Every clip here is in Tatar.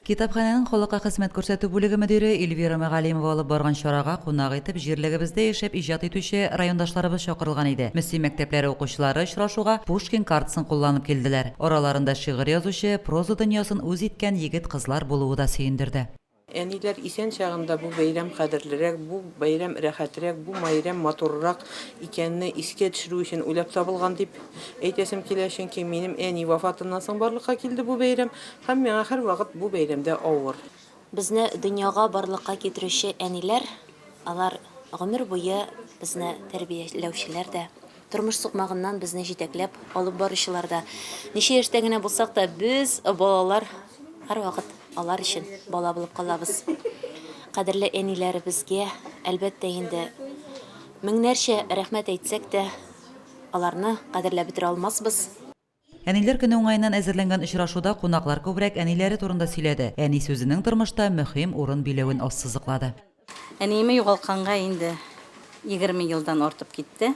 Китапханәнең халыкка хезмәт күрсәтү бүлеге мөдире Эльвира Мәгалимова алып барган чарага кунак итеп җирлегебездә яшәп иҗат итүче райондашларыбыз чакырылган иде. Мөслим мәктәпләре укучылары очрашуга Пушкин картасын кулланып килделәр. Араларында шигырь язучы, проза дөньясын үз иткән егет-кызлар булуы да сөендерде. Әниләр исән чагында бу бәйрәм кадерлерәк, бу бәйрәм рәхәтрәк, бу майрәм матурырак икәнне искә төшерү өчен уйлап табылган дип әйтәсем килә. Чөнки минем әни вафатыннан соң барлыкка килде бу бәйрәм. Һәм миңа һәрвакыт бу бәйрәмдә авыр. Безне дөньяга барлыкка китерүче әниләр, алар гомер буе безне тәрбияләүчеләр дә, тормыш сукмагыннан безне җитәкләп алып баручылар да. Ничә яшьтә генә булсак та, без, балалар, һәрвакыт алар өчен бала булып калабыз. Кадерле әниләребезгә, әлбәттә инде, меңнәрчә рәхмәт әйтсәк тә, аларны кадерләп бетерә алмасбыз. Әниләр көне уңаеннан әзерләнгән очрашуда кунаклар күбрәк әниләре турында сөйләде, әни сүзенең тормышта мөһим урын биләвен ассызыклады. Әниемне югалтканга инде егерме елдан артып китте.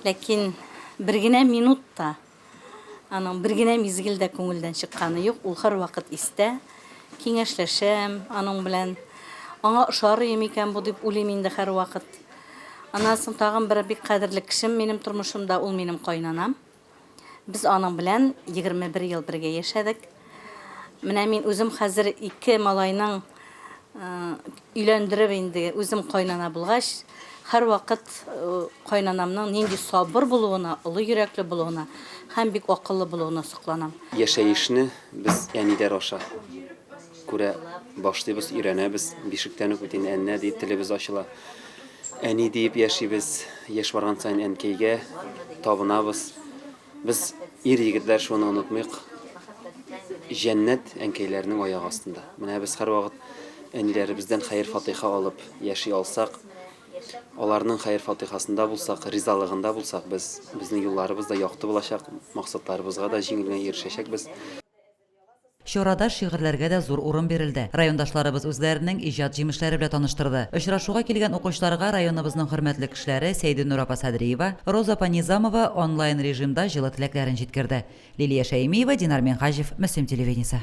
Ләкин бер генә минут та, аның бер генә мизгел дә күңелдән чыкканы юк, ул һәрвакыт истә. Киңәшләшәм аның белән. Аңа ошарые микән бу дип уйлыйм инде һәрвакыт. Аннан соң тагын бер бик кадерле кешем минем тормышымда, ул минем кайнанам. Без аның белән 21 ел бергә яшәдек. Менә мин үзем хәзер ике малайның өйләндереп инде үзем кайнана булгач, һәрвакыт э, кайнанамның нинди сабыр булуына, олы йөрәкле булуына һәм бик акыллы булуына сокланам. Яшәешне без әниләр аша Күрә башлыйбыз, өйрәнәбез. Бишектән үк бит инде әннә диеп телебез ачыла. Әни диеп яшибез. Яшь барган саен әнкәйгә табынабыз. Без ир егетләр шуны онытмыйк. Җәннәт әнкәйләрнең аяк астында. Менә без һәрвакыт әниләребездән хәер-фатыйха алып яши алсак, аларның хәер-фатыйхасында булсак, ризалыгында булсак, без, безнең юлларыбыз да якты булачак, максатларыбызга да җиңел генә ирешәчәкбез. Чарада шигырьләргә дә зур урын бирелде. Райондашларыбыз үзләренең иҗат җимешләре белән таныштырды. Очрашуга килгән укучыларга районыбызның хөрмәтле кешеләре Сәйденур апа Садриева, Роза апа Низамова онлайн режимда җылы теләкләрен җиткерде. Лилия Шәймиева, Динар Минһаҗев, Мөслим телевидениесе.